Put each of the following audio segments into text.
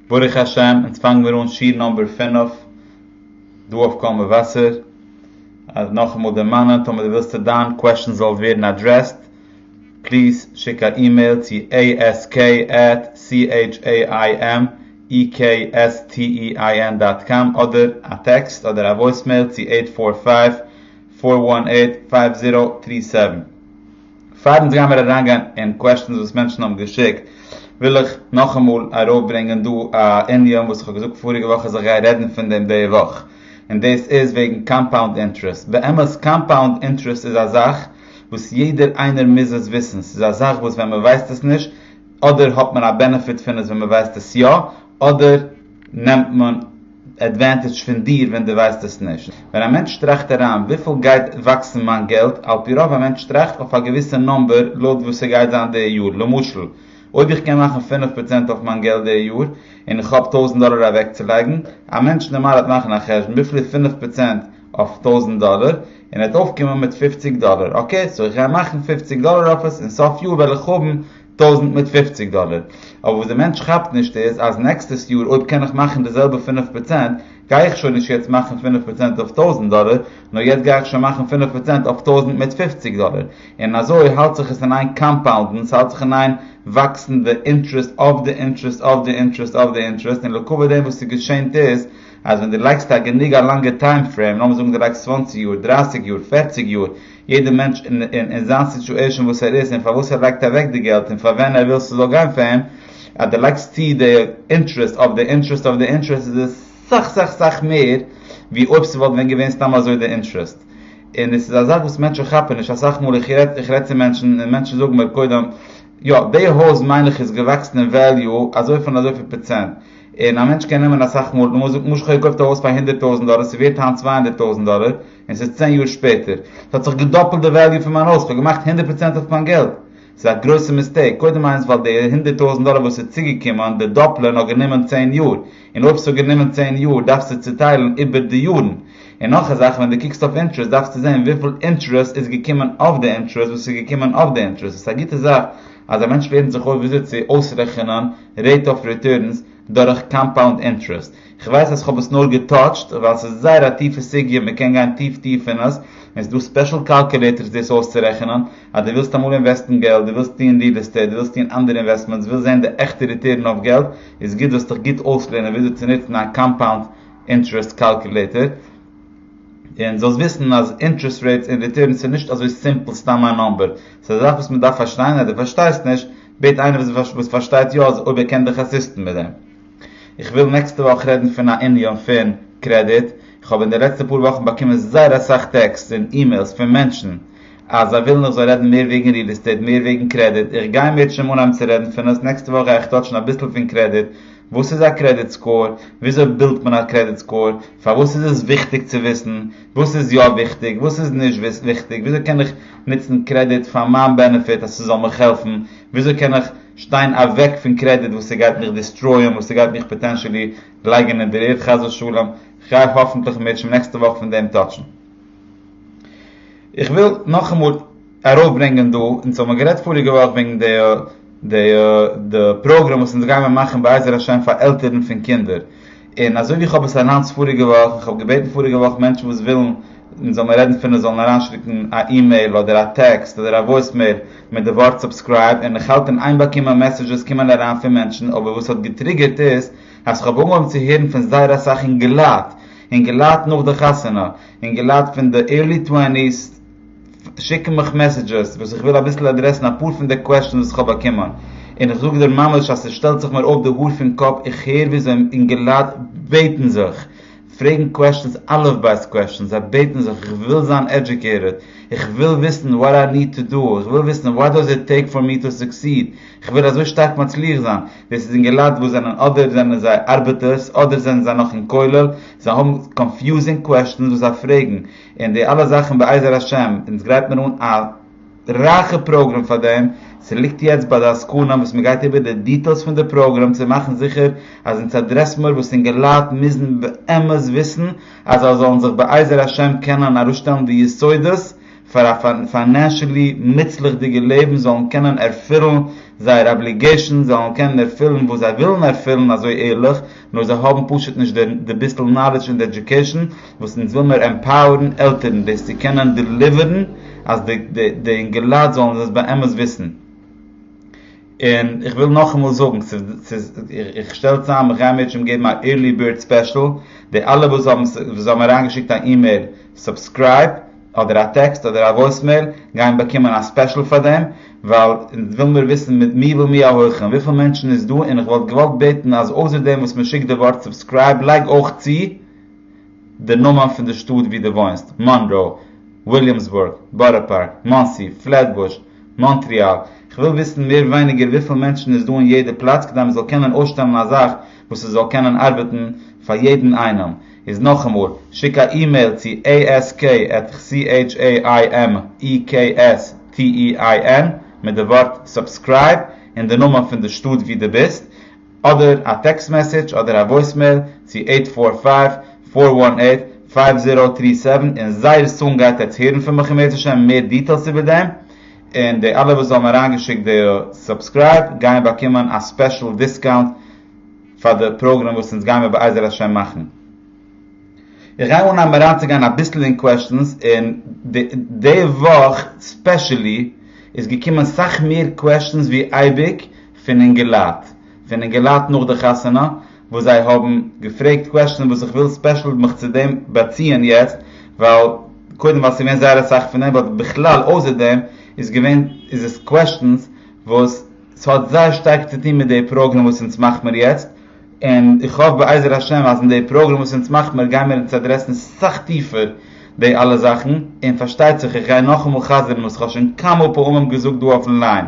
ברוך השם אונז פאנגן מיר אן שיעור נאמבער פֿינף דא אויף קול מבשר, אז נאכאמאל דערמאנען טאמער דו ווילסטו דיין קוועשאן זאל ווערן אדרעסד פליז שיק א אימעיל צו עי עס קעי עט סי עיטש עי איי עם אי קעי עס טי אי איי ען דאט קאם אדער א טעקסט אדער א וואויסמעיל צו עיט פֿאר פֿייוו פֿאר וואן עיט פֿייוו זירא טרי סעווען. פארן זיך גיימיר אריינגיין אין קוועשטענס וואס מענטשן האבן געשיקט וויל איך נאכאמאל ארויפברענגען דא א ענין וואס איך האב געזאגט פאריגע וואך אז איך גיי רעדן פון דעם די וואך און דאס איז וועגן קאמפאונד אינטערעסט באמת קאמפאונד אינטערעסט איז א זאך וואס יעדער איינער מוז עס וויסן ס'איז א זאך וואס ווען מען ווייסט עס נישט אדער האט מען א בענעפיט פון עס ווען מען ווייסט עס יא אדער נעמט מען עדווענטעדזש פון דיר ווען דו ווייסט עס נישט. ווען א מענטש טראכט אריין וויפיל גייט וואקסן מיין געלט, על פי רוב א מענטש טראכט אויף א געוויסע נומבער לויט וואס ס'גייט זיין די יאר, למשל אויב איך קען מאכן פֿינף פראצענט אויף מיין געלט די יאר און איך האב טויזנט דאלער אוועקצולייגן, א מענטש נארמאל וועט מאכן א חשבון וויפיל איז פֿינף פראצענט אויף טויזנט דאלער און ער וועט אויפקומען מיט פֿופֿציק דאלער, אקעי סאו איך גיי מאכן פֿופֿציק דאלער אויף עס און סוף יאר וועל איך האבן טויזנט מיט פופציג דאלער, אבער וואס די מענטש כאפט נישט איז אז נעקסטעס יאר אויב קען איך מאכן די זעלבע פינף פראצענט גיי איך שוין נישט יעצט מאכן פינף פראצענט אויף טויזנט דאלער נאר יעצט גיי איך שוין מאכן פינף פראצענט אויף טויזנט מיט פופציג דאלער און אזוי האלט זיך עס אין איין קאמפאונדן ס'האלט זיך אין איין וואקסן די אינטרעסט אויף די אינטרעסט אויף די אינטרעסט אויף די אינטרעסט און לעקאווע דעם וואס ס'געשענט איז אז ווען די לייגסט א גענוג א לאנגע טיים פרעים לאמיר זאגן די לייגסט צוואנציג יאר דרייסיג יאר פערציג יאר יעדע מענטש אין זיין סיטועשען וואס ער איז און פארוואס ער לייגט אוועק די געלט און פאר ווען ער וויל ס'זאל גיין פאר אים, אז די לייגסט צו די אינטרעסט אויף די אינטרעסט אויף די אינטרעסט איז עס סאך סאך סאך מער ווי אויב ס'וואלט ווען געווען סתם אזוי די אינטרעסט און עס איז א זאך וואס מענטשן כאפן נישט אסאך מאל איך רעד איך רעד צו מענטשן און מענטשן זאגן מיר קודם יא די הויז מיין איך איז געוואקסן אין וועליו אזוי פון אזוי פיל פראצענט און א מענטש קען נעמען אסאך מאל למשל איך האב געקויפט א הויז פאר הונדערט טויזענט דאלער ס'ווערט היינט צוויי הונדערט טויזענט דאלער און ס'איז צען יאר שפעטער. ס'האט זיך געדאפלט די וועליו פון מיין הויז, כ'האב געמאכט הונדערט פראצענט אויף מיין געלט. ס'איז א גרויסע מיסטעיק, קודם איינס ווייל די הונדערט טויזנט דאלער וואס איז צוגעקומען, די דאפלען האט גענומען צען יאר, און אויב ס'האט גענומען צען יאר דארפסטו צוטיילן איבער די יארן. און נאך א זאך ווען דו קוקסט אויף אינטרעסט דארפסטו זען וויפיל אינטרעסט איז געקומען אויף די אינטרעסט וואס איז געקומען אויף די אינטרעסט. ס'איז א גוטע זאך אז א מענטש לערנט זיך אויס וויאזוי צו אויסרעכענען רעיט אף ריטורנס דורך קאמפאונד אינטרעסט. כ'ווייס אז כ'האב עס נאר געטאטשט ווייל ס'איז זייער א טיפע סוגיא מ'קען גיין טיף טיף אין עס, און ס'דא ספעשל קאלקולעיטערס דאס אויסצורעכענען, אז דו ווילסט אמאל אינוועסטן געלט, דו ווילסט טוען ריעל עסטעיט, דו ווילסט טוען אנדערע אינוועסטמענטס, ווילסט זען די עכטע ריטערן אויף געלט, איז גוט זאלסט דיך גוט אויסלערנען וויאזוי צו נוצן א קאמפאונד אינטרעסט קאלקולעיטער, און זאלסט וויסן אז אינטרעסט רעיטס און ריטערנס איז נישט אזוי סימפל סתם א נומבער, ס'איז א זאך וואס מ'דארף פארשטיין, אז דו פארשטייסט נישט, בעט איינער וואס פארשטייט יא אויב ער קען דיך אסיסטן מיט דעם. איך וויל נעקסטע וואך רעדן פון א ענין פון קרעדיט, איך האב אין די לעצטע פאר וואכן באקומען זייער אסאך טעקסטס און אימעילס פון מענטשן אז זיי ווילן איך זאל רעדן מער וועגן ריעל עסטעיט מער וועגן קרעדיט, איך גיי מיר צום אנהייבן צו רעדן פון עס, נעקסטע וואך גיי איך טאטשן אביסל פון קרעדיט, וואס איז א קרעדיט סקאור, וויאזוי בילדט מען א קרעדיט סקאור, פארוואס איז עס וויכטיג צו וויסן, וואס איז יא וויכטיג, וואס איז נישט וויכטיג, וויאזוי קען איך נוצן קרעדיט פאר מיין בענעפיט אז ס'זאל מיך העלפן, וויאזוי קען איך שטיין אוועק פון קרעדיט וואס ס'גייט מיך דיסטרויען, וואס ס'גייט מיך פאטענשעלי לייגען אין דער ערד חס ושלום, כ'גיי האפענטליך מער שוין נעקסטע וואך פון דעם טאטשען. איך וויל נאכאמאל ארויף ברענגען דא, אונז האבן גערעדט פאריגע וואך וועגן די די די פראגרעם וואס אונז גיימער מאכן בעזר השם פאר עלטערן פון קינדער, און אזוי ווי איך האב עס אנאונסט פאריגע וואך, איך האב געבעטן פאריגע וואך מענטשן וואס ווילן מען זאל מען רעדן פון עס זאלן אריינשיקן א אימעיל אדער א טעקסט אדער א וואויסמעיל מיט די ווארט סובסקרייב און איך האלט אין איין באקומען מעסעזשעס קומען אריין פון מענטשן אבער וואס האט געטריגערט איז אז איך האב אנגעהויבן צו הערן פון זייער אסאך אינגעלייט אינגעלייט נאך די חתונה אינגעלייט פון די עירלי טוועניס שיקן מיך מעסעדזשעס וואס איך וויל אביסל אדרעסן אפאר פון די קוועשאנס וואס כ'האב באקומען און איך זאג דיר ממש אז ס'שטעלט זיך מיר אויף די האר פון קאפ איך הער וויאזוי אינגעלייט בעטן זיך פרעגן קוועשאנס אלף בית קוועשאנס זיי בעטן זיך איך וויל זיין עדזשוקעיטעד איך וויל וויסן וואט איי ניד טו דא איך וויל וויסן וואט דאז איט טעיק פאר מי טו סוקסיד איך וויל אזוי שטארק מצליח זיין דאס איז אינגעלייט וואס זענען אדער זענען זיי ארבעטערס אדער זענען זיי נאך אין כולל זיי האבן קאנפיוזינג קוועשאנס וואס זיי פרעגן און די אלע זאכן בעזר השם, אונז גרייט מיר אן א רייכע פראגרעם פאר דעם, ס'ליגט יעצט ביי די עסקנים וואס מ'גייט איבער די דיטעילס פון די פראגרעם צו מאכן זיכער אז אונז אדרעסן מיר וואס אינגעלייט מוזן באמת וויסן אז זיי זאלן זיך בעזר השם קענען אראפשטעלן די יסודות פאר א פיינענשעלי מוצלח'דיגע לעבן זאלן קענען ערפילן זייער אבליגעישאנס זאלן קענען ערפילן וואס זיי ווילן ערפילן אזוי ערליך נאר זיי האבן פשוט נישט די ביסל נאלידזש און די עדיוקעישן וואס אונז וויל מיר עמפאוערן עלטערן דאס צו קענען דעליווערן אז די אינגעלייט זאלן דאס באמת וויסן. און איך וויל נאכאמאל זאגן, איך שטעל צוזאם, איך גיי מערטשן געבן א עירלי בירד ספעשל, די אלע וואס האבן אריינגעשיקט א אימעיל סובסקרייב אדער א טעקסט אדער א וואויסמעיל גייען באקומען א ספעשל פאר דעם ווייל אונז וויל מיר וויסן מיט מי ומי ההולכים וויפיל מענטשן איז דא און איך וואלט געוואלט בעטן אז אויסער דעם וואס מען שיקט די ווארט סובסקרייב לייג אויך צו די נאמען פון די שטאט ווי דו וואוינסט מאנראו וויליאמסבורג בארא פארק מאנסי פלעטבוש מאנטריאל איך וויל וויסן מער ווייניגער וויפיל מענטשן איז דא אין יעדע פלאץ כדי מען זאל קענען אויסשטעלן א זאך וואס עס זאל קענען ארבעטן פאר יעדן איינעם. איז נאכאמאל, שיק א אימעיל צו ask@chaimekstein מיט די ווארט סובסקרייב און די נאמען פון די שטאט ווי דו ביסט, אדער א טעקסט מעסעדזש אדער א וואויסמעיל צו עיט פאר פייוו, פאר וואן עיט, פייוו זירא טרי סעווען און זייער סאון גייט עטס הערן פון מיך אם ירצה השם מער דיטעילס איבער דעם, און די אלע וואס האבן אריינגעשיקט די סובסקרייב גייען באקומען א ספעשל דיסקאונט. פאר די פראגרעם וואס אונז גיימער בעזר השם מאכן. איך גיי אנהייבן אריינצוגיין אביסל אין קוועשטענס און די וואך ספעשעלי איז געקומען סאך מער קוועשטענס ווי אייביג פון אינגעלייט פון אינגעלייט נאך די חתונה וואס זיי האבן געפרעגט קוועשטענס וואס איך וויל ספעשעל מיך צו דעם באציען יעצט ווייל קודם ווייל ס'איז געווען זייער אסאך פון דעם באט בכלל אויסער דעם איז געווען איז עס קוועשטענס וואס ס'האט זייער שטארק צו טון מיט די פראגרעם וואס אונז מאכט מיר יעצט, און איך האף בעזר השם אז אין די פראגרעם וואס אונז מאכט מיר גיימיר אונז אדרעסן סאך טיפער די אלע זאכן, און פארשטייט זיך איך גיי נאכאמאל חזר'ן וואס כ'האב שוין כמה פעמים געזאגט דא אויפן ליין,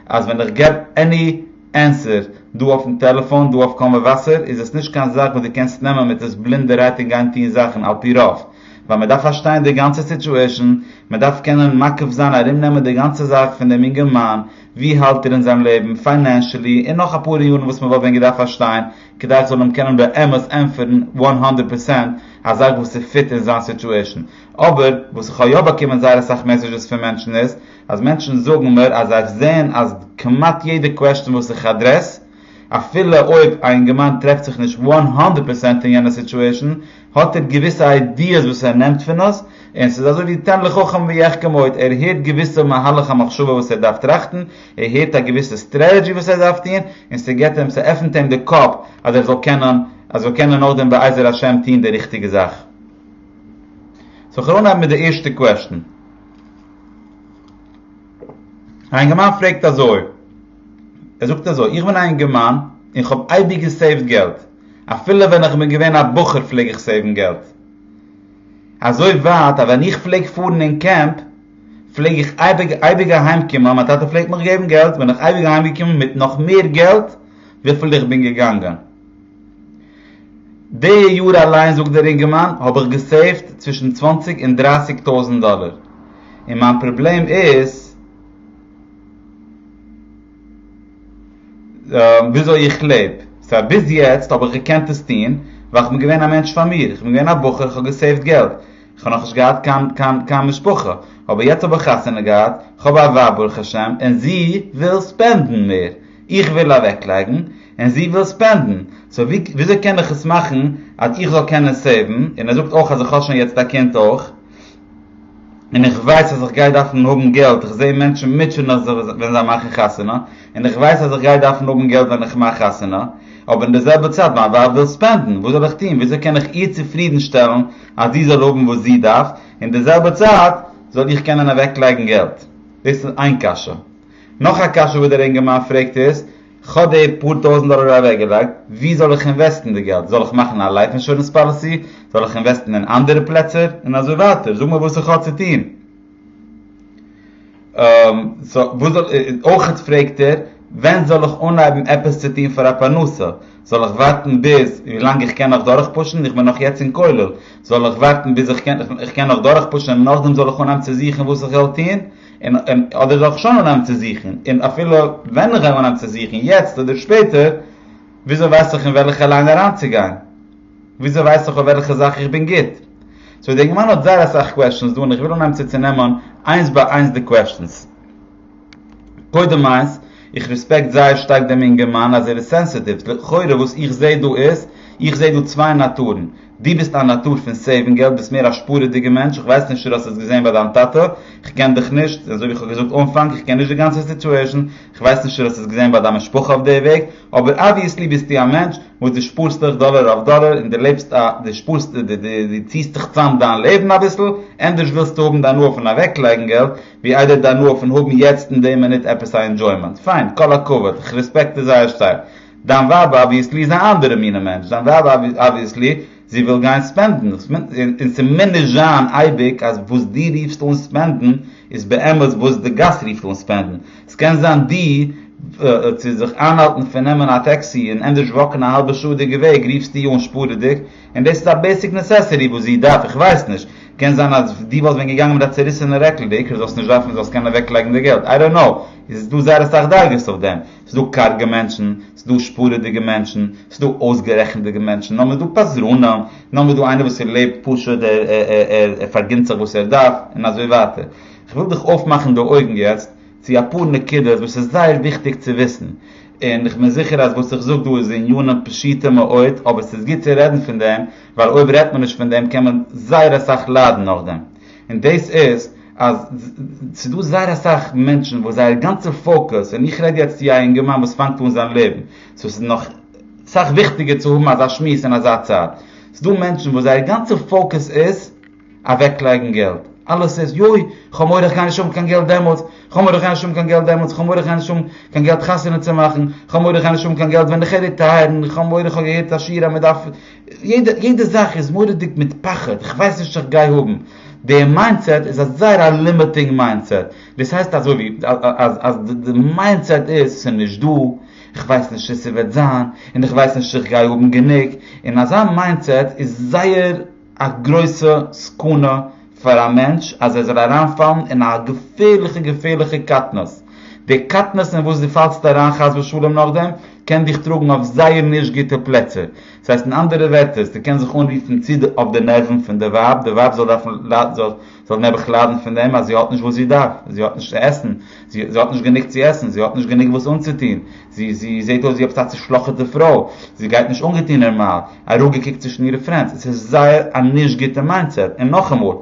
אז ווען איך געב עני ענסער דא אויפן טעלעפאן דא אויף קול מבשר איז עס נישט קיין זאך וואס דו קענסט נעמען מיט עס בלינדערהייט און גיין טון זאכן על פי רוב, ווייל מען דארף פארשטיין די גאנצע סיטועשאן, מען דארף קענען מקיף זיין ארום נעמען די גאנצע זאך פון דעם אינגערמאן, ווי האלט איר אין זיין לעבן, פיינענשעלי, און נאך אפאר יארן וואס מען וואלט ווען געדארפט פארשטיין כדי איך זאל אים קענען באמת ענטפערן וואן האנדערט פערסענט א זאך וואס איז פיט אין זיין סיטועשן. אבער וואס איך האב יא באקומען זייער אסאך מעסעדזשעס פון מענטשן איז אז מענטשן זאגן מיר אז זיי זעען אז כמעט יעדע קוועסטשן וואס איך אדרעס, אפילו אויב א אינגערמאן טרעפט זיך נישט וואן הונדערט פערסענט אין יענע סיטועשן האט ער געוויסע איידיעס וואס ער נעמט פון עס און ס'איז אזוי ווי תן לחכם ויחכם עוד ער הערט געוויסע מהלך המחשבה וואס ער דארף טראכטן ער הערט א געוויסע סטרעטעדזשי וואס ער דארף טון און ס'געט אים ס'עפנט אים די קאפ אז ער זאל קענען אז ער קענען נאכדעם בעזר השם טון די ריכטיגע זאך. סאו כ'וועל אנהייבן מיט די ערשטע קוועשטן. א אינגערמאן פרעגט אזוי. ער זאגט אזוי, איך בין א אינגערמאן און איך האב אייביג געסעיווט געלט, אפילו ווען איך בין געווען א בחור פלעג איך סעיוון געלט, אזוי ווייט אז ווען איך פלעג פארן אין קעמפ פלעג איך אייביג אייביג אהיים קומען, מיין טאטע פלעגט מיך געבן געלט, בין איך אייביג אהיים געקומען מיט נאך מער געלט וויפיל איך בין געגאנגען. די יאר אליין זאגט דער אינגערמאן האב איך געסעיווט צווישן צוואנציג און דרייסיג טויזענט דאלער, און מיין פראבלעם איז, וויאזוי איך לעב. סא ביז יעצט האב איך געקענט עס טון ווייל כ'בין געווען א מענטש פאר מיר, כ'בין געווען א בחור, כ'האב געסעיווט געלט, כ'האב נאכנישט געהאט קיין קיין משפחה, אבער יעצט האב איך חתונה געהאט, כ'האב א ווייב ברוך השם, און זי וויל ספענדן מער, איך וויל אוועקלייגן, און זי וויל ספענדן, סא וויאזוי קען איך עס מאכן אז איך זאל קענען סעיוון, און ער זאגט אויך אז איך האב שוין יעצט א קינד אויך. און איך ווייס אז איך גיי דארפן האבן געלט, איך זע מענטשן מוטשען נאך זיך ווען זיי מאכן חתונה, און איך ווייס אז איך גיי דארפן האבן געלט ווען איך מאך חתונה, אבער אין די זעלבע צייט מיין ווייב וויל ספענדן, וואס זאל איך טון, וויאזוי קען איך איר צופרידן שטעלן אז זי זאל האבן וואס זי דארף, און די זעלבע צייט זאל איך קענען אוועק לייגן געלט? דאס איז איין קשיא. נאך א קשיא וואס דער אינגערמאן פרעגט איז, כ'האב די פאר טויזענט דאלער אוועק געלייגט, ווי זאל איך אינוועסטן די געלט? זאל איך מאכן א לייף אינשורענס פאליסי? זאל איך אינוועסטן אין אנדערע פלעצער? און אזוי ווייטער, זאג מיר וואס איך האב צו טון. אויכעט פרעגט ער ווען זאל איך אנהייבן עפעס צו טון פאר א פרנסה? זאל איך ווארטן ביז ווי לאנג איך קען נאך דורך פושן, איך בין נאך יעצט אין כולל, זאל איך ווארטן ביז איך קען נאך דורך פושן און נאכדעם זאל איך אנהייבן צו זוכן וואס איך זאל טון? און אדער זאל איך שוין אנהייבן צו זוכן, און אפילו ווען איך וועל אנהייבן צו זוכן, יעצט אדער שפעטער, וויאזוי ווייס איך אין וועלכע ליין אריינצוגיין? וויאזוי ווייס איך אויף וועלכע זאך איך בין גוט? סאו די גמרא האט זייער אסאך קוועשאנס דא און איך וויל אנהייבן צו צונעמען איינס ביי איינס די קוועשאנס. קודם איינס, איך רעספעקט זייער שטארק דעם אינגערמאן אז ער איז סענסעטיוו, לכאורה וואס איך זעה דא איז, איך זעה דא צוויי נאטורן, דו ביסט א נאטור פון סעיוון געלט, ביסט מער א שפארעדיגע מענטש, איך ווייס נישט צו דו האסט עס געזעהן ביי דיין טאטע, איך קען דיך נישט, אזוי ווי איך האב געזאגט אנפאנג, איך קען נישט די גאנצע סיטועשן, איך ווייס נישט צו דו האסט עס געזעהן ביי דיין משפחה אויף די וועג, אבער אבוויעסלי ביסטו א מענטש וואס דו שפארסט אויך דאלער אויף דאלער און דו לעבסט א, דו שפארסט, דו ציעסט דיך צאם דיין לעבן אביסל, ענדערש ווילסטו האבן די הנאה פון אוועקלייגן געלט, ווי איידער די הנאה פון האבן יעצט אין די מינוט עפעס א ענדזשוימענט, פיין, כל הכבוד, איך רעספעקט עס זייער שטארק, דיין ווייב אבוויעסלי איז א אנדערע מינע מענטש, דיין ווייב אבוויעסלי זי וויל גיין ספענדן, און ס'מוז נישט זיין אייביג אז וואס דו רופסט אן ספענדן איז באמת וואס די גאס רופט אן ספענדן, ס'קען זיין דו צו זיך איינהאלטן פון נעמען א טעקסי און ענדערש וואקן א האלבע שעה דיגע וועג רופסטו אן שפארעדיג, און דאס איז א בעיסיק נעסעסערי וואס זי דארף, איך ווייס נישט, קען זיין אז דו וואלסט ווען געגאנגען מיט א צעריסענע רעקל, די עיקר זאלסט נישט דארפן זאלסט קענען אוועקלייגן די געלט, איי דאנט קנאו, איז דא זייער אסאך דרגות אויף דעם. ס'דא קארגע מענטשן, ס'דא שפורעדיגע מענטשן, ס'דא אויסגערעכנטדיגע מענטשן, נאכדעם איז דא פזרנים, נאכדעם איז דא איינער וואס ער לעבט פשוט, ער ער פארגינט זיך וואס ער דארף, און אזוי ווייטער. כ'וויל דיך אויפמאכן די אויגן יעצט צו אפאר נקודות וואס איז זייער וויכטיג צו וויסן, און איך בין זיכער אז וואס איך זאג דא איז עניינים פשוטים מאוד, אבער ס'איז גוט צו רעדן פון דעם, ווייל אויב רעדט מען נישט פון דעם קען מען זייער אסאך ליידן נאכדעם. און דאס איז אז ס'איז דא זייער אסאך מענטשן וואס זייער גאנצע פאוקוס, און איך רעד יעצט צו א אינגערמאן וואס פאנגט אן זיין לעבן, סאו ס'איז נאך סאך וויכטיגער צו האבן אזא שמועס אין אזא צייט, ס'איז דא מענטשן וואס זייער גאנצע פאוקוס איז אוועק לייגן געלט, אלעס איז יוי, כ'האב מורא כ'גיי נישט האבן קיין געלט דעמאלטס, כ'האב מורא כ'גיי נישט האבן קיין געלט דעמאלטס, כ'האב מורא כ'גיי נישט האבן קיין געלט חתונה צו מאכן, כ'האב מורא כ'גיי נישט האבן קיין געלט ווען כ'על ריטייערן, כ'האב מורא כ'האב געהערט א שיעור אז מ'דארף יעדע זאך איז מורא'דיג מיט פחד, איך ווייס נישט איך גיי האבן. די מיינדסעט איז א זייער א לימיטינג מיינדסעט. דאס הייסט אזוי ווי אז די מיינדסעט איז ס'איז נישט דא, איך ווייס נישט צו ס'וועט זיין, און איך ווייס נישט צו איך גיי האבן גענוג. און אזא מיינדסעט איז זייער א גרויסע סכנה. פאר א מענטש אז ער זאל אריין פאלן אין א געפערליכע געפערליכע קטנות, די קטנות אין וואס דו פאלסט אריין חס ושלום נאכדעם קען דיך טראגן אויף זייער נישט גוטע פלעצער, ס'הייסט אין אנדערע ווערטער ס'קען קען זיך אנרופן צו אויף די נערוון פון די ווייב, די ווייב זאל דארפן זאל נעבעך ליידן פון דעם אז זי האט נישט וואס זי דארף, זי האט נישט צו עסן, זי האט נישט גענוג צו עסן, זי האט נישט גענוג וואס אנצוטון, זי זי זעהט אויס ווי עפעס א צושלאכעטע פרוי, זי גייט נישט אנגעטוהן נערמאל, אראפגעקוקט צווישן אירע פרענדס, עס איז זייער א נישט גוטע מיינדסעט, און נאכאמאל,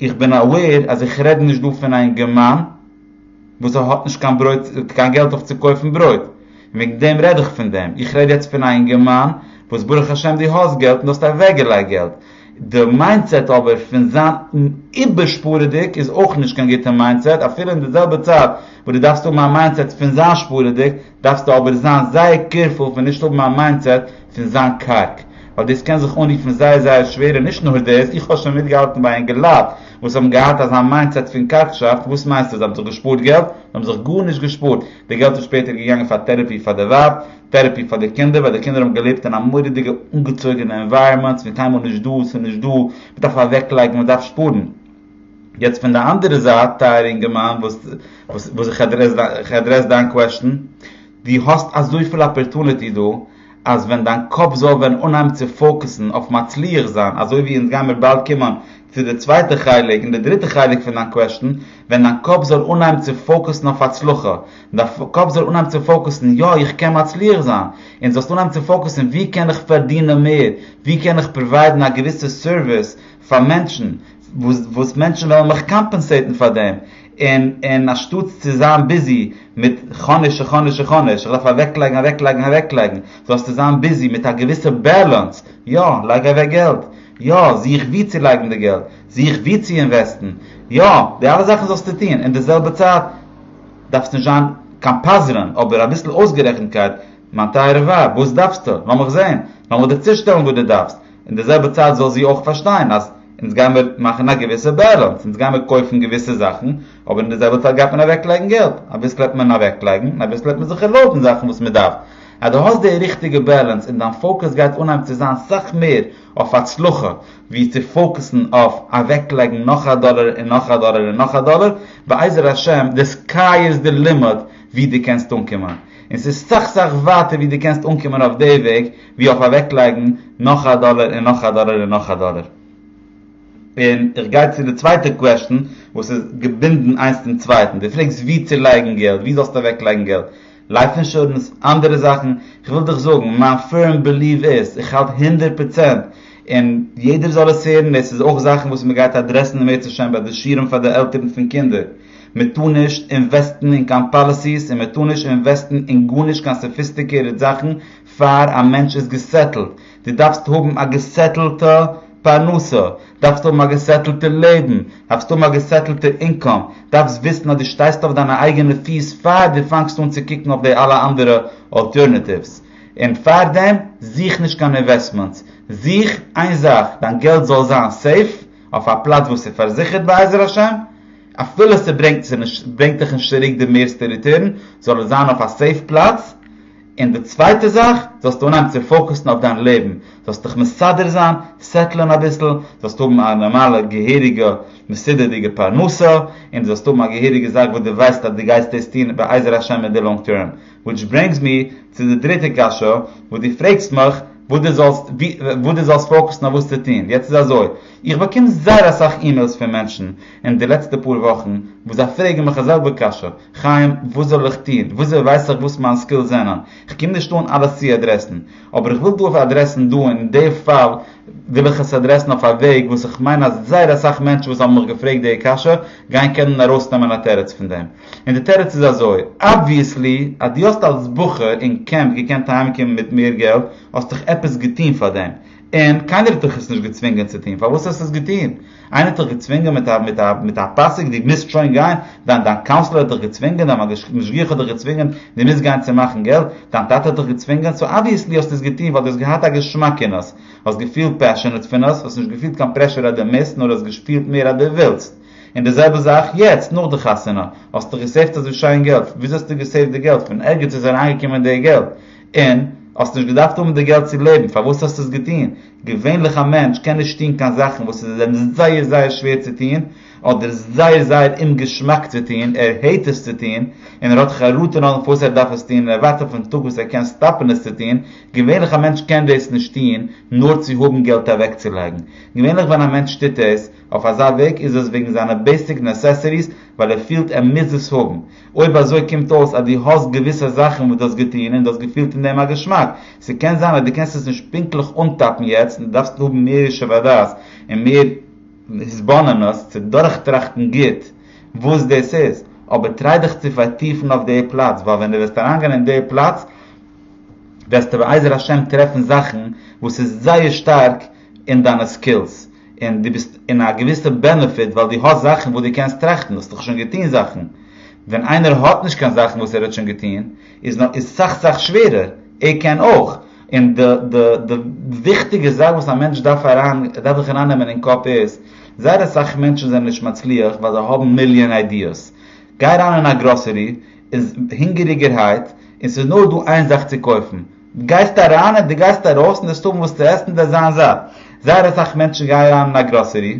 איך בין אוועיר אז איך רעד נישט דא פון א אינגערמאן וואס האט נישט קיין ברויט קיין געלט אויף צו קויפן ברויט, און וועגן דעם רעד איך פון דעם, איך רעד יעצט פון א אינגערמאן וואס ברוך השם דו האסט געלט און דו האסט אוועקגעלייגט געלט, די מיינדסעט אבער פון זיין איבערשפארעדיג איז אויך נישט קיין גוטע מיינדסעט, אפילו אין די זעלבע צייט וואס דו דארפסט האבן א מיינדסעט פון זיין שפארעדיג, דארפסטו אבער זיין זייער קעירפול פון נישט האבן א מיינדסעט פון זיין קארג, ווייל דאס קען זיך אנרופן זייער זייער שווער, און נישט נאר דאס, איך האב שוין מיטגעהאלטן ביי אינגעלייט וואס האבן געהאט אזא מיינדסעט פון קארגשאפט, וואס מיינסטו זיי האבן זיך געשפארט געלט? זיי האבן זיך גארנישט געשפארט, די געלט איז שפעטער געגאנגען פאר טעראפי פאר די ווייב, טערעפי פאר די קינדער ווייל די קינדער האבן געלעבט אין א מורא'דיגע אנגעצויגענע ענווייראמענט פון קיינמאל נישט דא ס'איז נישט דא מ'דארף אוועקלייגן מ'דארף שפארן יעצט פון די אנדערע זייט טייערע אינגערמאן וואס איך עדרעס דיין קוועשטן דו האסט אזויפיל אפערטוניטי דא אז ווען דיין קאפ זאל ווען אנהייבן צו פאוקעסן אויף מצליח זיין אזוי ווי אונז גיימיר באלד קומען צו די צווייטע חלק און די דריטע חלק פון דיין קוועשטן ווען דיין קאפ זאל אנהייבן צו פאוקעסן אויף הצלחה דיין קאפ זאל אנהייבן צו פאוקוסן יא איך קען מצליח זיין, און זאלסט אנהייבן צו פאוקוסן ווי קען איך פארדינען מער, ווי קען איך פראוויידן א געוויסע סערוויס פאר מענטשן, וואס מענטשן וועלן מיך קאמפענסעיטן פאר דעם, און און אנשטאטס צו זיין ביזי מיט כאניש און כאניש און כאניש, איך דארף אוועקלייגן אוועקלייגן אוועקלייגן, זאלסטו זיין ביזי מיט א געוויסע בעלענס, יא לייג אוועק געלט, יא זוך ווי צו לייגן די געלט, זוך ווי צו אינוועסטן, יא די אלע זאכן זאלסטו טון, אין די זעלבע צייט, דארפסט נישט זיין קיין פזרן, אבער אביסל אויסגערעכנטקייט, מיין טייערע ווייב, וואס דארפסטו? לאמיך זען, לאמיך דיר צושטעלן וואס דו דארפסט, אין די זעלבע צייט זאל זי אויך פארשטיין אז אונז גיימיר מאכן א געוויסע בעלענס, אונז גיימיר קויפן געוויסע זאכן, אבער אין די זעלבע צייט גייט מען אוועקלייגן געלט, אביסל העט מען אוועקלייגן און אביסל העט מען זיך ערלויבן זאכן וואס מען דארף, אז דו האסט די ריכטיגע בעלענס און דיין פאוקעס גייט אנהייבן צו זיין סאך מער אויף הצלחה, ווי צו פאוקעסן אויף אוועקלייגן נאך א דאלער און נאך א דאלער און נאך א דאלער, בעזר השם די סקיי איז די לימיט ווי דו קענסט אנקומען, און ס'איז סאך סאך ווייטער ווי דו קענסט אנקומען אויף די וועג ווי אויף אוועקלייגן נאך א דאלער און נאך א דאלער און נאך א דאלער. און איך גיי צו די צווייטע קוועשטן וואס איז געבינדן איינס צום צווייטן, דו פרעגסט ווי צו לייגן געלט, ווי זאלסטו אוועקלייגן געלט, לייף אינשורענס, אנדערע זאכן, כ'וויל דיך זאגן, מיין פירם ביליוו איז, איך האלט הונדערט פראצענט, און יעדער זאל עס הערן, דאס איז אויך זאכן וואס מען גייט אדרעסן אם ירצה השם ביי די שיעורים פאר די עלטערן פון קינדער, מען טאר נישט אינוועסטן אין קיין פאליסיס און מען טאר נישט אינוועסטן אין גארנישט קיין סאפיסטיקירעט זאכן פאר א מענטש איז געסעטלט, דו דארפסט האבן א געסעטלטע פרנסה, דארפסט האבן א געסעטלטע לעבן, דארפסט האבן א געסעטלטע אינקאם, דארפסט וויסן אז דו שטייסט אויף דיינע אייגענע פיס פאר דו פאנגסט אן צו קוקן אויף די אלע אנדערע אלטערנעטיווס. און פארדעם זוך נישט קיין אינוועסטמענטס, זוך איין זאך, דיין געלט זאל זיין סעיף, אויף א פלאץ וואס איז פארזיכערט בעזר השם, אפילו ס'ברענגט דיך נישט צוריק די מערסטע ריטורן, זאל עס זיין אויף א סעיף פלאץ, און די צווייטע זאך, זאלסטו אנהייבן צו פאוקעסן אויף דיין לעבן, זאלסט דיך מסדר זיין, סעטלען אביסל, זאלסט האבן א נארמאלע געהעריגע מסודר'דיגע פרנסה, און דו זאלסט האבן א געהעריגע זאך וואס דו ווייסט אז דו גייסט דאס טון בעזר השם אין די לאנג טערם. וויטש ברענגס מי צו די דריטע קשיא וואס דו פרעגסט מיך וואס דו זאלסט וואס דו זאלסט פאוקעסן אויף וואס צו טון. יעצט איז אזוי, איך באקום זייער אסאך אימעילס פון מענטשן, אין די לעצטע פאר וואכן וואס זיי פרעגן מיך א זעלבע קשיא, חיים וואס זאל איך טון, וויאזוי ווייס איך וואס מיין סקילס זענען, כ'קום נישט אן אלעס צו אדרעסן, אבער איך וויל דא אויף אדרעסן דא אין די פאל וויל איך עס אדרעסן אויף א וועג וואס איך מיין אז זייער אסאך מענטשן וואס האבן מיך געפרעגט די קשיא גייען קענען ארויסנעמען א תירוץ פון דעם, און די תירוץ איז אזוי, אבוויעסלי אז דו האסט אלס בחור אין קעמפ געקענט אהיימקומען מיט מער געלט האסטעך עפעס געטון פאר דעם, און קיינער האט דיך עס נישט געצווינגען צו טון, פארוואס האסטו עס געטון? איינער האט דיך געצווינגען מיט א מיט א מיט א פסק דו מוזט שוין גיין? דיין דיין קאונסלער האט דיך געצווינגען? דיין משגיח האט דיך געצווינגען דו מוזט גיין צו מאכן געלט? דיין טאטע האט דיך געצווינגען? סאו אבוויעסלי האסטו עס געטון ווייל דו האסט געהאט א געשמאק אין עס, האסט געפילט פעשענעט פון עס, האסט נישט געפילט קיין פרעשור אז דו מוזט, נאר האסט געשפילט מער אז דו ווילסט. און די זעלבע זאך יעצט, נאך די חתונה, האסטו געסעיווט אזוי שיין געלט, וויאזוי האסטו געסעיווט די געלט? פון ערגעץ איז אריינגעקומען די געלט, און, האסט נישט געדארפט האבן די געלט צו לעבן, פארוואס האסטו עס געטון? געווענליך א מענטש קען נישט טון קיין זאכן וואס איז אים זייער זייער שווער צו טון, אדער זייער זייער אומגעשמאק צו טון, ער העט עס צו טון, און ער האט חרטה נאכדעם פארוואס ער דארף עס טון, און ער ווארט אויפן טאג וואס ער קען סטאפן עס צו טון, געווענליך א מענטש קען דאס נישט טון נאר צו האבן געלט אוועקצולייגן. געווענליך ווען א מענטש טוט עס אויף אזא וועג איז עס וועגן זיינע בעיסיק נעסעסעריס ווייל ער פילט ער מוז עס האבן, אויב אזוי קומט אויס אז דו האסט געוויסע זאכן וואס דו האסט געטון און דו האסט געפילט אין דעם א געשמאק. ס'קען זיין אז דו קענסט עס נישט פונקטליך אנטאפן יעצט און דו דארפסט האבן מער ישוב הדעת און מער התבוננות צו דורכטראכטן גוט וואס דאס איז. אבער טריי דיך צו פארטיפן אויף די פלאץ, ווייל ווען דו וועסט אריינגיין אין די פלאץ וועסטו בעזר השם טרעפן זאכן וואס איז זייער שטארק אין דיינע סקילס. און דו ביסט אין א געוויסע בענעפיט ווייל דו האסט זאכן וואס דו קענסט טראכטן, האסט דאך שוין געטון זאכן. ווען איינער האט נישט קיין זאכן וואס ער האט שוין געטון, איז איז סאך סאך שווערער, ער קען אויך. און די די די וויכטיגע זאך וואס א מענטש דארף אריין דארף זיך אריין נעמען אין קאפ איז, זייער אסאך מענטשן זענען נישט מצליח ווייל זיי האבן מיליאן איידיעס. גיי אריין אין א גראסערי, איז הונגעריגערהייט, און ס'איז נאר דא איין זאך צו קויפן, דו גייסט אריין און דו גייסט ארויס און דארפסט האבן וואס צו עסן דאס זענען זיי. זייער אסאך מענטשן גייען אריין אין א גראסערי,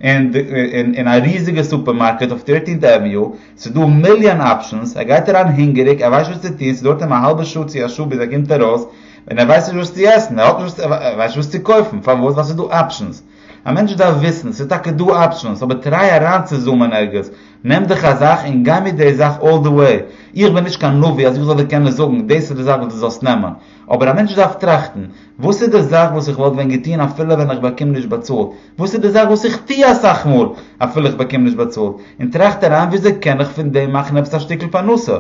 אין א ריזיגע סופערמארקעט אויף טירטינט עוועניו, ס'איז דא א מיליאן אפשענס, ער גייט אריין הונגעריג, ער ווייסט נישט וואס צו טון, ס'דויערט אים א האלבע שעה צו א שעה ביז ער קומט ארויס, און ער ווייסט נישט וואס צו עסן, ער האט נישט וואס, ער ווייסט נישט וואס צו קויפן, פארוואס? ווייל ס'איז דא אפשענס. א מענטש דארף וויסן, ס'איז טאקע דא אפשענס, אבער טריי אריינצוזומען ערגעץ, נעם דיך א זאך און גיי מיט די זאך אלל די וועי, איך בין נישט קיין נביא אז איך זאל דיר קענען זאגן דאס איז די זאך וואס דו זאלסט נעמען, אבער א מענטש דארף טראכטן, וואס איז די זאך וואס איך וואלט ווען געטון אפילו ווען איך באקום נישט באצאלט, וואס איז די זאך וואס איך טו אסאך מאל אפילו איך באקום נישט באצאלט, און טראכט אריין וויאזוי קען איך פון דעם מאכן עפעס א שטיקל פרנסה,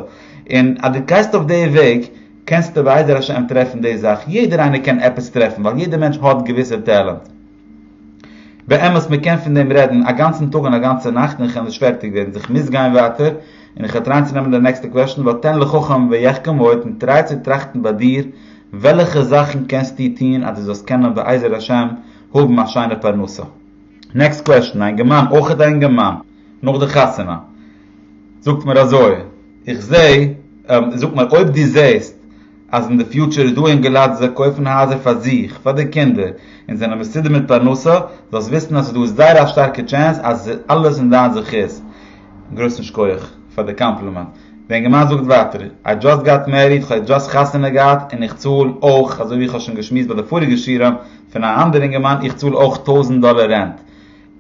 און אז דו גייסט אויף די וועג, קענסטו בעזר השם טרעפן די זאך, יעדער איינער קען עפעס טרעפן ווייל יעדער מענטש האט געוויסע טעלענט. באמת מען קען פון דעם רעדן א גאנצן טאג און א גאנצע נאכט און כ'על נישט פערטיג ווערן, זיך מוז גיין ווייטער און איך וועל טרייען צו נעמען די נעקסטע קוועשן, ותן לחכם ויחכם עוד און טריי צו טראכטן ביי דיר וועלעכע זאכן קענסטו טון אז דו זאלסט קענען בעזר השם האבן א שיינע פרנסה. נעקסט קוועשן, א אינגערמאן, אויך א אינגערמאן, נאך די חתונה, זאגט מיר אזוי. איך זעה, זאג מיר אויב דו זעהסט אז אין די פיוטשער איז דא אינגע לייט וואס זיי קויפן הייזער פאר זיך, פאר די קינדער, און זענען מסודר מיט פרנסה, זאלסט וויסן אז ס'איז דא זייער א שטארקע טשענס אז עס איז אלעס אין דיין זכות. גרויסן שקויעך פאר די קאמפלימענט. די אינגערמאן זאגט ווייטער, איי דזשאסט גאט מעריד, כ'האב יעצט דזשאסט חתונה געהאט, און איך צאל אויך, אזוי ווי איך האב שוין געשמועסט ביי די פאריגע שיעורים פון א אנדער אינגערמאן, איך צאל אויך טויזנט דאלער רענט.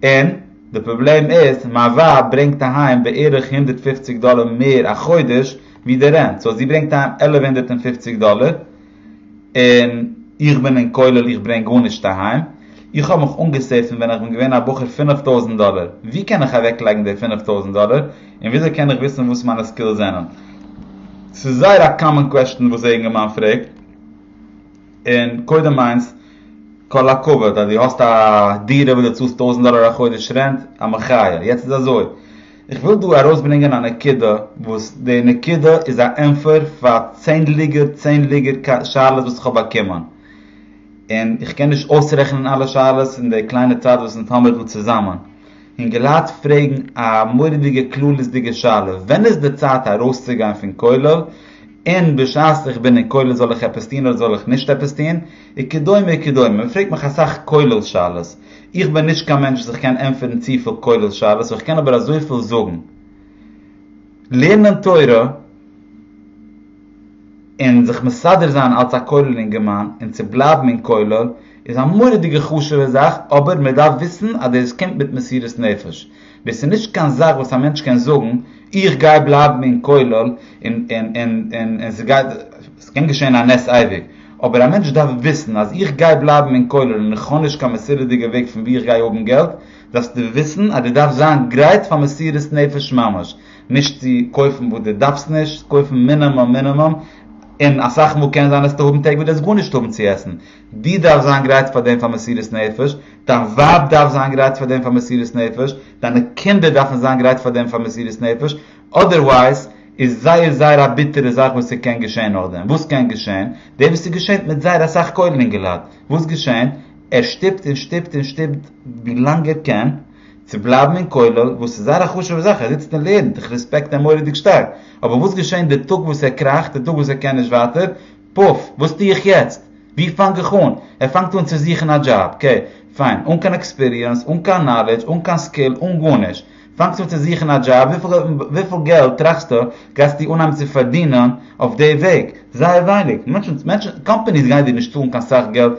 און די פראבלעם איז מיין ווייב ברענגט אהיים בערך הונדערט פֿופֿציק דאלער מער א חודש ווי די רענט סאו זי ברענגט אהיים עלף הונדערט און פֿופֿציק דאלער און איך בין אין כולל איך ברענג גארנישט אהיים איך האב מיך אנגעסעיווט פון ווען איך בין געווען א בחור פֿינף טויזנט דאלער ווי קען איך אוועק לייגן די פֿינף טויזנט דאלער און וויאזוי קען איך וויסן וואס מיינע סקילס זענען ס'איז זייער א קאמאן קוועסטשן וואס א יונגערמאן פרעגט. און קודם מיינסט, כל הכבוד אז דו האסט א דירה וואס דו צאלסט טויזנט דאלער א חודש רענט, א מחיה. יעצט איז אזוי, איך וויל דא ארויסברענגען א נקודה, וואס די נקודה איז א ענפער פאר צענדליגער צענדליגער שאלות וואס איך האב באקומען. און איך קען נישט אויסרעכענען אלע שאלות אין די קליינע צייט וואס אונז האמיר דא צוזאמען. אינגעלייט פרעגן א מורא'דיגע כללית'דיגע שאלה, ווען איז די צייט ארויסצוגיין פון כולל? און בשעת איך בין אין כולל זאל איך עפעס טון אדער זאל איך נישט עפעס טון? וכדומה וכדומה, מען פרעגט מיך אסאך כולל שאלות, איך בין נישט קיין מענטש וואס איך קען ענטפערן צופיל כולל שאלות, איך קען אבער אזויפיל זאגן, לערנען תורה און זיך מסדר זיין אלס א כולל אינגערמאן און צו בלייבן אין כולל איז א מורא'דיגע חשוב'ע זאך, אבער מען דארף וויסן אז דאס קומט מיט מסירות נפש, דאס איז נישט קיין זאך וואס א מענטש קען זאגן, איך גיי בלייבן אין כולל און עס קען געשען א נס אייביג, אבער א מענטש דארף וויסן אז איך גיי בלייבן אין כולל און איך האב נישט קיין מסודר'דיגע וועג פון וואו איך גיי האבן געלט, דארפסטו וויסן אז דו דארפסט זיין גרייט פאר מסירות נפש ממש, נישט צו קויפן וואס דו דארפסט נישט, קויפן מינומום מינומום, און אסאך מאל קען זיין אז וועסטו האבן טעג וואס דו וועסט גארנישט האבן צו עסן, דו דארפסט זיין גרייט פאר דעם פאר מסירות נפש, דיין ווייב דארף זיין גרייט פאר דעם פאר מסירות נפש, דיינע קינדער דארפן זיין גרייט פאר דעם פאר מסירות נפש, אדערווייז איז זייער זייער א ביטערע זאך וואס ס'קען געשען נאכדעם, וואס קען געשען? דאס וואס איז געשענט מיט זייער אסאך כולל אינגעלייט, וואס געשענט? ער שטופט און שטופט און שטופט ווי לאנג ער קען צו בלייבן אין כולל, וואס איז זייער א חשוב'ע זאך, ער זיצט און לערנט, איך רעספעקט אים מורא'דיג שטארק, אבער וואס געשענט די טאג וואס ער קראכט, די טאג וואס ער קען נישט ווייטער, פוף! וואס טו איך יעצט? ווי פאנג איך אן? ער פאנגט אן צו זוכן א דזשאב, קעי, פיין, אן קיין עקספיריענס, אן קיין נאלעדזש, אן קיין סקיל, אן גארנישט. פאנגסט אן צו זוכן א דזשאב, וויפיל געלט טראכסטו גייסטו אנהייבן צו פארדינען אויף די וועג? זייער ווייניג. מענטשן, מענטשן, קאמפאניס גייען דיר נישט צאלן קיין סאך געלט.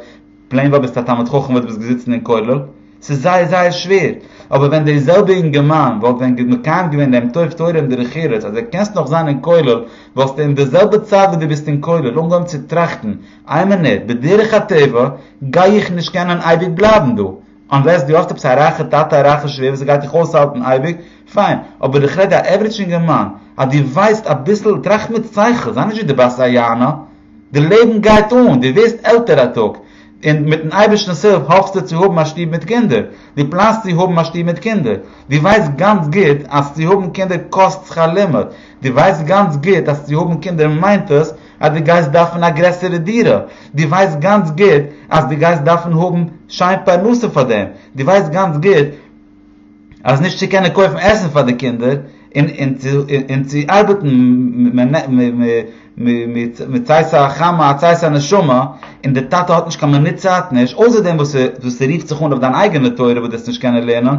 פלעין ווייל ביסט א תלמיד חכם וואלט ביסט געזיצן אין כולל? ס'איז זייער זייער שווער. אבער ווען דער זעלבע אינגערמאן וואלט ווען מקיים געווען דעם טוב תורה און דרך ארץ אז דו קענסט נאך זיין אין כולל וואלסטו אין די זעלבע צייט וואס דו ביסט אין כולל אנגעהויבן צו טראכטן איי מינוט בדרך הטבע גיי איך נישט קענען אייביג בלייבן דא אנלעס דו האסט עפעס א רייכע טאטע א רייכע שווער וואס גייט דיך אויסהאלטן אייביג פיין אבער איך רעד די עוורעדזש אינגערמאן אז דו ווייסט אביסל טראכט מיט שכל זיי נישט ווי דו בייסט זיי יענע די לעבן גייט אן, דו ווערסט עלטער א טאג, און מיט'ן אייבערשטנ'ס הילף האפסטו צו האבן א שטוב מיט קינדער, דו פלאנסט צו האבן א שטוב מיט קינדער, דו ווייסט גאנץ גוט אז צו האבן קינדער קאסט שכר לימוד, דו ווייסט גאנץ גוט אז צו האבן קינדער מיינט עס אז דו גייסט דארפן א גרעסערע דירה, דו ווייסט גאנץ גוט אז דו גייסט דארפן האבן שיין פרנסה פאר דעם, דו ווייסט גאנץ גוט. אז נישט צו קענען קויפן עסן פאר די קינדער און צו ארבעטן מצאת החמה הצעת הנשמה און די טאטע האט נישט קיין מינוט צייט נישט אויסער דעם וואס ס'רופט זיך אן אויף דיין אייגענע תורה וואס דו וועסט נישט קענען לערנען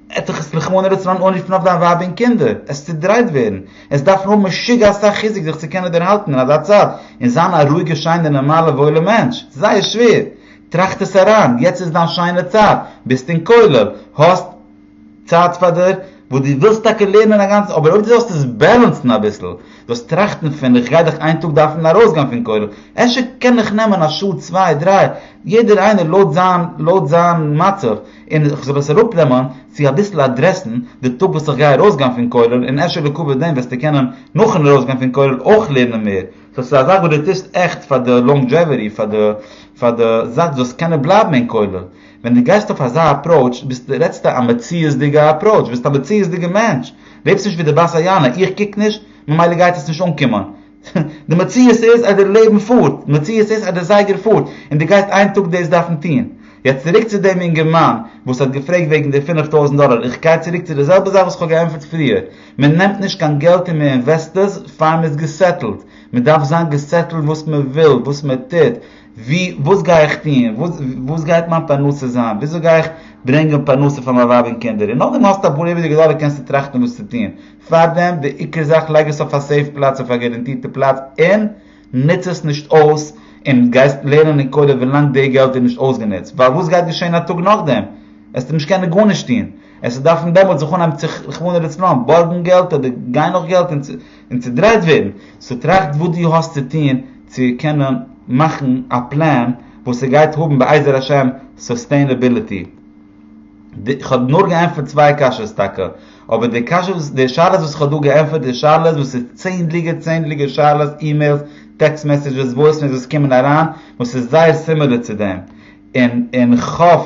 עט זיך עס רחמנא ליצלן אנרופן אויף דיין ווייב און קינדער עס צודרייט ווערן עס דארפן האבן משוגע אסאך חיזוק זיך צו קענען דערהאלטן אין אזא צייט און זיין א רואיגע שיינע נארמאלע וואוילע מענטש ס'איז זייער שווער טראכט עס אריין, יעצט איז דיין שיינע צייט, ביסט אין כולל, האסט צייט פאר דיר, וואס דו ווילסט טאקע לערנען א גאנצע, אבער אויב דו זאלסט עס בעלענסן אביסל, זאלסט טראכטן פון איך גיי דאך איין טאג דארפן ארויסגיין פון כולל, אפשר קען איך נעמען א שעה צוויי דריי, יעדער איינער לויט זיין לויט זיין מצב, און איך זאל עס אראפנעמען צו אביסל אדרעסן די טאג וואס איך גיי ארויסגיין פון כולל, און אפשר לעקאווע דעם וועסטו קענען נאכן ארויסגיין פון כולל אויך לערנען מער. סאו ס'איז אזא גוטע טעסט עכט פאר די לאנגדזשעוועטי, פאר די פאר די זאך דו זאלסט קענען בלייבן אין כולל. ווען דו גייסט אויף אזא אפראוטש ביסטו רעדסטו א מציאות'דיגע אפראוטש, ביסט א מציאות'דיגע מענטש, לעבסט נישט ווי די בת היענה, איך קוק נישט, ממילא גייט עס נישט אנקומען. די מציאות איז אז די לעבן פארט, די מציאות איז אז די זייגער פארט, און דו גייסט איין טאג דאס דארפן טון. יעצט צוריק צו דעם אינגערמאן וואס האט געפרעגט וועגן די פֿינף טויזנט דאלאר, איך גיי צוריק צו די זעלבע זאך וואס איך האב געענטפערט פריער, מען נעמט נישט קיין געלט אין מען אינוועסטעס פאר מען איז געסעטלט, מען דארף זיין געסעטלט וואס מען וויל, וואס מען טוט, ווי, וואס גיי איך טוהן, וואס גייט מיין פרנסה זיין, וויאזוי גיי איך ברענגען פרנסה פאר מיין ווייב און קינדער, און נאכדעם האסטו אפאר איבעריגע דאלער קענסטו טראכטן וואס צו טוהן, פארדעם די עיקר זאך לייג עס אויף א סעיף פלאץ אויף א גאראנטירטע פלאץ און נוץ עס נישט אויס, און גייסט לערנען אין כולל ווילאנג די געלט איז נישט אויסגענוצט, ווייל וואס גייט געשעהן א טאג נאכדעם, עסטו נישט קענען גארנישט טוהן. עס איז דארפן דעמאלטס זיך אנהייבן צו רחמנא לצלן בארגן געלט אדער גיין נאך געלט און צודרייט ווערן, סאו טראכט וואס דו האסט צו טון צו קענען מאכן א פלען וואס ס'גייט האבן בעזר השם סוסטעינעביליטי. כ'האב נאר געענטפערט צוויי קשיות טאקע, אבער די קשיות די שאלות וואס כ'האב דא געענטפערט איז שאלות וואס איז צענדליגער צענדליגער שאלות אימעילס טעקסט מעסעדזשעס וואויס מעילס וואס קומען אריין וואס איז זייער סימילער צו דעם, און און כ'האף.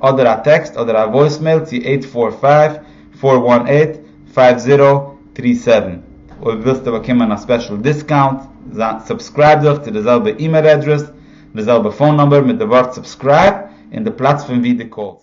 אדער א טעקסט אדער א וואויסמעיל צו עיט פאר פייוו פאר וואן עיט פייוו זירא טרי סעווען אויב ווילסטו באקומען א ספעשל דיסקאונט סובסקרייב דיך צו די זעלבע אימעיל אדרעס די זעלבע פאון נומבער מיט די ווארט סובסקרייב און די פלאץ פון ווי די קאלסט.